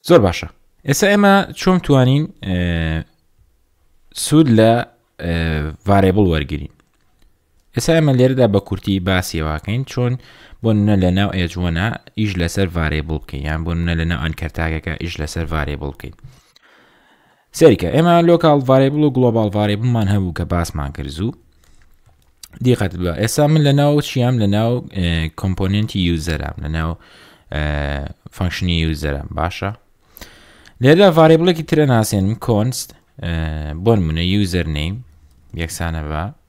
زۆر باشە ئێستا ئێمە چۆن توانین سوود لە ڤارێبڵ وەرگین ئێستا ئێمە لێرەدا بە کورتی باسیێواکەین چۆن بۆ نە لە ناو ئێجوەنا ئیش لەسەر ڤارێبڵ بکەین یان بۆ نە لە ناو ئەنکەرتاگەکە ئیش لەسەر ڤارێبڵ بکەین سەیرکە ئێمە لۆکاڵ ڤارێبڵ و گڵۆباڵ ڤارێبڵمان هەبوو کە باسمان کرد زوو دیقەت بە ئێستا من لە ناو چیام لە ناو کۆمپۆننتی یوزەرام لە ناو فەنکشنی یوزەرم باشە لێردا ڤارێبڵێکی ترە ناسێنم کۆنست بۆن منە یوزەر نیم یەکسانە بە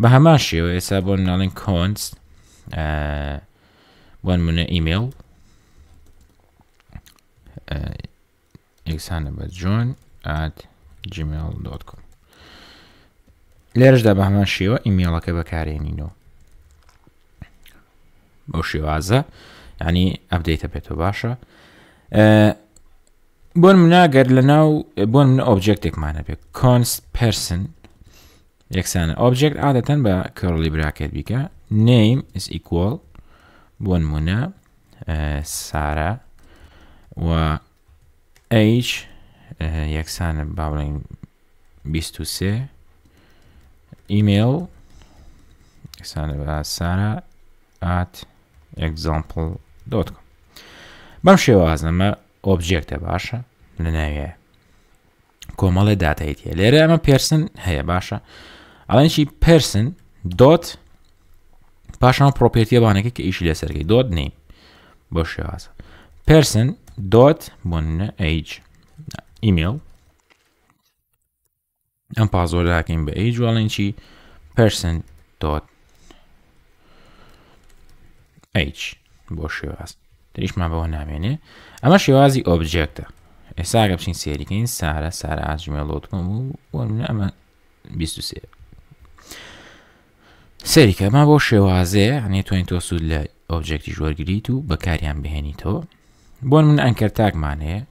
بە هەمان شێوە ئێستا بۆن ناڵین کۆنس بۆن منە ئیمێڵ یەکسانە بە جۆن ئات gmail.com لێرشدا بە هەمان شێوە ئیمێڵەکە بەکارێنینەوە بەو شێوازە ینی ئەبدەیتە بێتەوە باشە بۆن مناگەر لە ناو بۆن من ئۆبجێکتێکمان هەبێت کۆنس پرسن یەکسانە ئۆبجێکت عادەتەن بە کەڕڵی براکەت بیکە نیم is equal بۆ نمونە سارا و ئەیش یەکسانە با بڵێن 23 ئیمێل یەکسانە بە سارا ئات example.com بەم شێوازەمە ئۆبجێکتە باشە لەناوێ کۆمەڵێ داتایت هەیە لێرە ئەمە پێرسن هەیە باشە ئەڵێنشی پرسن دۆت پاشان پرۆپێتیەوانەکە کە ئیشی لەسەرگەی دۆت نیم بۆ شێوازە پرسن دۆت بۆ ئەیج ئیمێل ئەم پازۆرداکەین بە ئەی جوڵێنچی پرسن دۆت ئەیچ بۆ شێواز تریشمان بەوە نامێنێ ئەمە شێوازی ئۆبجێکتە ئێساگە بچین سێریکەین سارە سارە ئاجمێڵۆتکم و ئەمە 23 سەیرکە ئەمە بۆ شێوازەیە هەنێ توانین تۆ سوود لە ئۆبجێکتیش وەرگیت و بەکاریان بهێنیتەوە بۆن من ئەنکەر تاکمان هەیە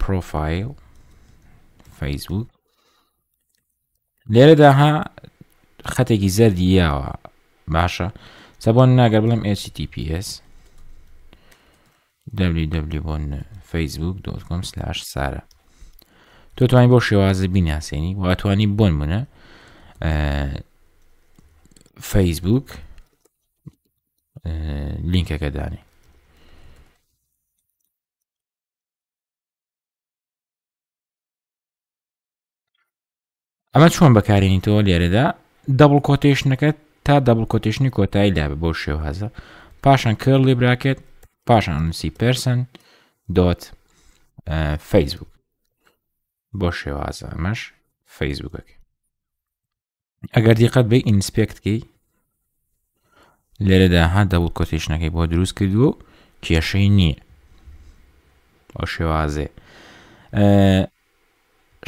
پرۆفایل فەیسبوک لێرەدا ها خەتێکی زەردی یاوە باشە سەبۆن ناگەر بڵم HTTPS www.facebook.com/sara تۆ توانین بۆ شێوازە بیناسیێنی و ئەتوانی بۆن منە فەیسبوک لینکەکە دانێ ئەمە چۆن بەکارێنیتەوە لێرەدا دەبڵ کۆتێشنەکە تا دەبڵ کۆتێشنی کۆتایی لابێ بۆ شێوهزە پاشان کێڵ لێ براکێت پاشان نووسی پرسن دۆت فەیسبوک بۆ شێوازە ئەمەش فەیسبوکەکە ئەگەر دیقەت بێ ئینسپێکتکەی لێرەدا ها دەبڵ کۆتیشنەکەی بۆ دروست کردووە و کێشەی نییە ئەو شێوازێ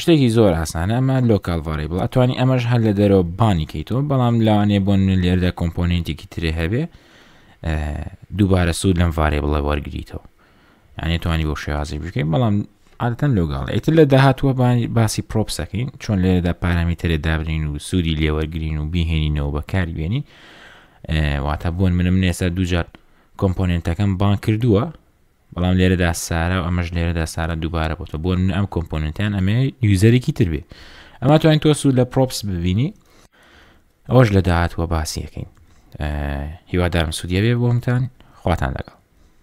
شتێکی زۆر ئاسانە ئەمە لۆکال ڤارێبڵ ئەتوانی ئەمەش هەر لە دەرەوە بانی کەیتەوە بەڵام لاوانێ بۆن لێردا کۆمپۆننتێکی ترێ هەبێ دووبارە سوود لەم ڤارێبڵە وەرگیتەوە یعنی توانی بۆ شێوازی بکەین بەڵام عادەتەن لۆگەڵ ئیتر لە داهاتوە باسی پرۆپسەکەین چۆن لێرەدا پارامیتەرێ دابنین و سوودی لێوەرگین و بیهێنینەوە بەکاری بێنین واتە بوون منم نێستا دوجار کۆمپۆننتەکەم بان کردووە بەڵام لێرەدا سارا و ئەمەش لێرەدا سارا دووبارە بۆتە بۆ من ئەم کۆمپۆننتیان ئەمێ یوزەرێکی تر بێت ئەمە توانین تۆ سوود لە پرۆپس ببینی ئەوەش لە داهاتوە باسیەکەین هیوادارم سوودیە بێ بۆمتان خواتان لەگەڵ